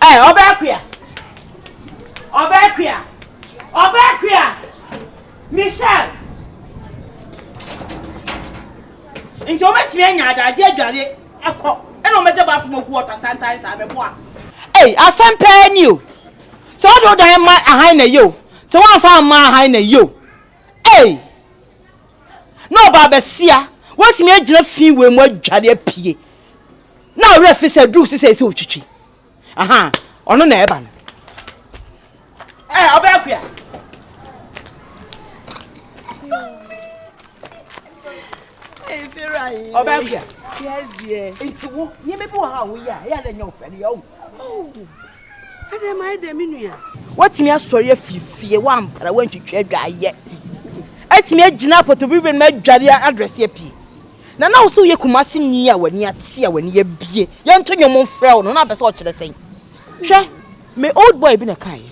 Ɛ ɔbaa kua ɔbaa kua ɔbaa kua Michelle nti wɔn bɛtumi anya adagye adware ɛkɔ ɛna wɔn bɛgye baafo mu gu ɔtantantan saa mɛboa. Ei asɛm pɛɛ ni o sɛ wɔde wo dan ma ahan na yie o sɛ wɔamfa amma ahan na yie o ei. na ɔbaa bɛsia watumi agyina fi wei mu adware apue na ɔwerɛ fi sɛ duru so sɛ ɛsɛ ɔtwitwi aha ɔno na ɛba no ɛ ɔbɛɛ kua ɔbɛɛ kua nti wo nneɛma bi wɔ ha a woyɛ a ɛyɛ a na ɛnyɛ wo fɛ no yɛ wo Adɛn ma ayɛ dɛ me nua? Woatumi asɔre afiri fie, woampra, woantwitwa adwaeɛ. Atumi agyina apɔtɔbiri bɛ no mu adware adrɛse apie. Na na wo sɛ woyɛ Kumasi ni a w'ani ate a w'ani abie. Yɛnto nnwom mfrɛ wo no, na wopɛ sɛ ɔkyerɛ sɛn? Hwɛ, me old boy bi na ɛkaeɛ.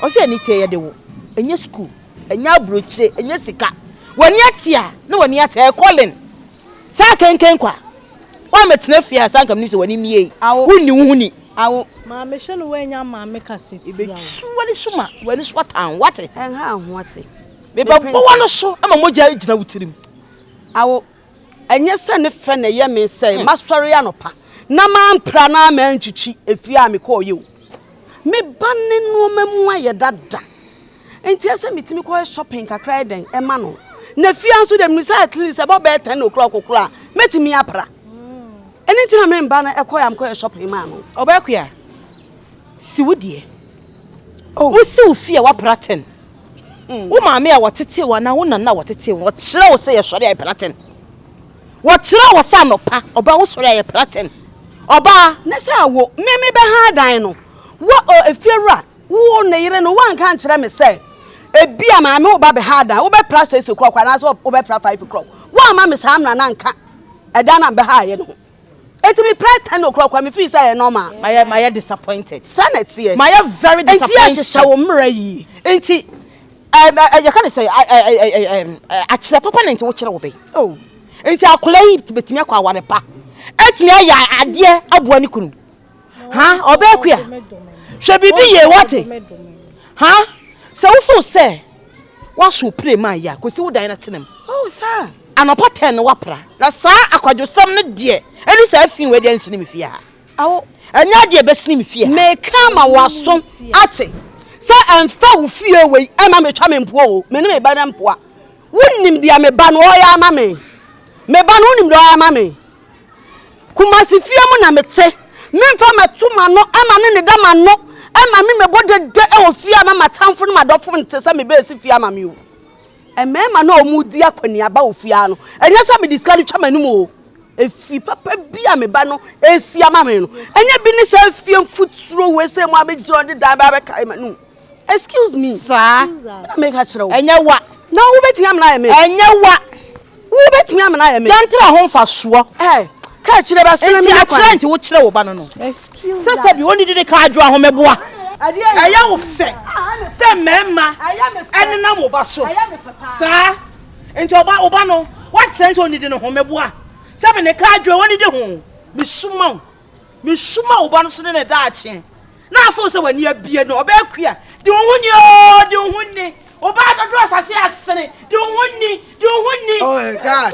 Ɔse Anitae yɛde wo, ɛnyɛ sukuu, ɛnyɛ aburokyire, ɛnyɛ sika. W'ani ate a, na w'ani ate, ɛyɛ calling. Sɛ akenken kwa. Woammɛtena fie a, saa anka menim sɛ w'ani mmue yi. Wonni wo ho ni. Awo. Maame hwɛ no woannya maame kasa tia wo. Yɛbɛtwi w'ani so ma w'ani so atan wo, woate? Ɛnha wo ho ate. Mebɛbɔ w'ano so ma mogya agyina wo tirim. Awo. Ɛnyɛ sɛ ne fɛ na ɛyɛ me sɛ masɔre anɔpa na mampra anaa mantwitwi efie a mekɔeɛ o. Me ba no nnoɔma mu ayɛ dada nti ɛsɛ metumi kɔ yɛ shopping kakra yɛ dɛn ɛma no na fie nso dɛm no sɛ at least ɛbɔ bɛyɛ ten o'clock koraa mɛtumi apra ɛno nti na me mba no ɛkɔ yɛ amkɔ yɛ shopping maa no. Ɔbɛɛkoe a si wo deɛ oh. wosi wo fie a wapra ten hmm. wo maame a wɔtetee wo anaa wo nana a wɔtetee wo ɔkyerɛ wo sɛ yɛsɔre a ɛpra ten. Wɔkyerɛɛ wɔ sɛ anɔpa ɔbɛ wo sɔre ayɛ praten ɔbaa. Ne sɛ wo me me bɛ han dan no wo ɔ efie wura wo ne yere no wa nka nkyerɛ me sɛ ebi a maame wo ba bɛ han dan wo bɛ pra six o'clock anaa sɛ wo bɛ pra five o'clock wa ma me saa mmara na nka ɛdan na bɛ ha yɛ no ho eti me pra ten o'clock wa me fi sɛ yɛ normal. Mayɛ mayɛ disappointed. Sɛ na ɛteɛ. Mayɛ very disappointed. Enti yɛ hyehyɛ wo mmara yie enti. Ɛm ɛ yɛka ne sɛn ɛ ɛ ɛ ɛ ɛm ɛ akyerɛ papa na nti wokyerɛ wo bɛ oh nti akwadaa yi bɛtumi akɔ aware pa ɛtumi ayɛ adeɛ aboa ne kunu ha ɔbɛɛ kua hwɛ biribi yie wate ha sɛ wofo sɛ waso pire ma yɛ a kɔsi wo dan no tenam oh saa anɔpa tɛn no wapra na saa akwadwosɛm no deɛ ɛne saa fi wɔ deɛ nsene me fie ha Awo, ɛnyɛ adeɛ a ɛbɛsene me fie ha. Meka ama w'aso ate sɛ ɛmfa wo fie wei ɛma metwa me mpoa o, me ne me ba no mpoa. Wonim deɛ me ba no ɔyɛ ama me? Me ba no wonim deɛ ɔyɛ ama me? Kumasi fie mu na mete, memfa mɛto m'ano ɛma ne ne da m'ano ɛma me mɛbɔ dede ɛwɔ fie ama m'atamfo ne m'adɔfo nte sɛ mebɛɛsi fie ama me o. Mmarima no a wɔredi akɔneaba wɔ fie ha no, ɛnyɛ sɛ mede sika no twa m'anom oo. Efie papa bi a me ba no resi ama me no, ɛnyɛ bi ne saa fie mfuturo wei sɛ mo abɛgyina ɔde dan baa bɛkae m'anom. Excuse me. Saa. Na meka kyerɛ wo. Ɛnyɛ wa. Na wobɛtumi amena ayɛ me. Ɛnyɛ wa. Wo bɛtumi amena ayɛ me. Dɛntra ho mfasoɔ. Ɛɛ kaa kyire bɛ sene me ne kwan. Nti akyerɛ nti wo kyerɛ wo ba no no. Excuse that. Sɛsɛ bi onidi ne kaa adwo ahomeboa. Ɛyɛ wo fɛ sɛ mmarima ɛnenam wo ba so saa nti ɔba wo ba no wakyerɛ sɛ onidi ne homeboa sɛ me ne kaa adwo onidi ho. Mesuma wo mesuma wo ba no so ne ne daakye Na afo sɛ w'ani abie no, ɔbɛyɛ kua. Di wo ho ni oo, di wo ho ni. Ɔbaa dodoɔ asase asene, di wo ho ni, di wo ho ni. Oh God,